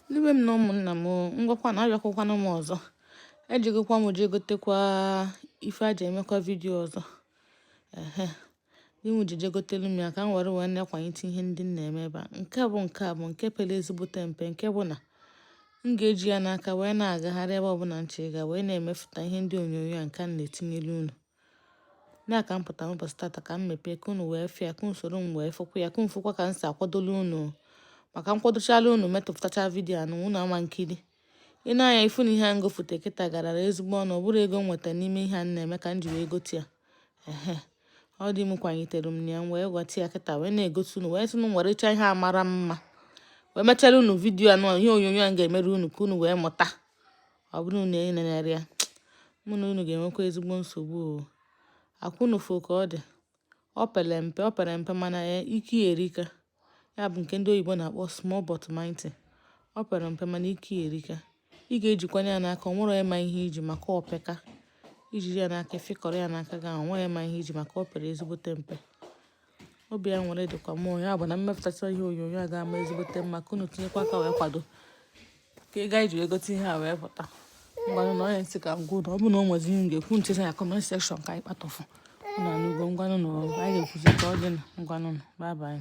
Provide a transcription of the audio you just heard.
Ndị be m na ụmụnna m ngwakwanụ abịakwakwana m ọzọ ejegokwa m jee gotekwa ife e ji emekwa vidiyo ọzọ ehe di m ji jegotelu m ya ka m were wee na-akwanyite ihe ndị m na-eme ebe a nke bụ nke a bụ nke pere ezigbote mpe nke bụ na m ga-eji ya n'aka wee na-agagharị ebe ọbụla m chọrọ ịga wee na-emefụta ihe ndị onyonyo a nke a na-etinyelu unu na ka m pụta n'ụbọchị tata ka m mepee ka unu wee fụ ya ka unu soro m wee fụkwa ya ka unu fụkwa ka m si akwadolu unu maka m kwadochala unu mepụtacha vidiyo anụ unu ama nkiri ya anya ị fụ na ihe a m gofute kịta garara ezigbo ọnụ ọ bụrọ ego m nweta n'ime ihe a na-eme ka m ji wee gote ya ehe ọ di m kwanyitere m na ya m wee gota ya kịta wee na-egosi unu wee sị m werecha ihe a mara mma wee mechara unu vidiyo anụ ihe onyonyo a ga-emere unu ka unu wee mụta ọ bụrụ na unu enenerọ ya mụ na unu ga-enwekwa ezigbo nsogbu o ọkwa unu fụ ka ọ dị ọ pere mpe ọ pere mpe mana e, ike ya erika ya bụ nke ndị oyibo na-akpọ small but mighty ọ pere mpe mana ike ya erika ị ga-ejikwanụ ya n'aka o nwerọ ịma ihe i ji maka ọ peka i jiri ya n'aka fịkọrọ ya n'aka gị o nwerọ ịma ihe i ji maka ọ pere ezigbote mpe ọ bịa were dịkwa mma ya bụ na m mepụtacha ihe onyonyo ọ ga-ama ezigbote mma ka unu tinyekwa aka wee kwado ka ego e ji egote ihe a wee pụta ngwanụ nụ ọ ihe m sị ka m gwa unu ọ bụ na o nwezi ihe m ga-ekwu m cheta ya comment section ka anyị kpatụfụ unu anụgo ngwanụ na anyị ga-ekwuzi ka ọ dị na ngwanụ nụ bye bye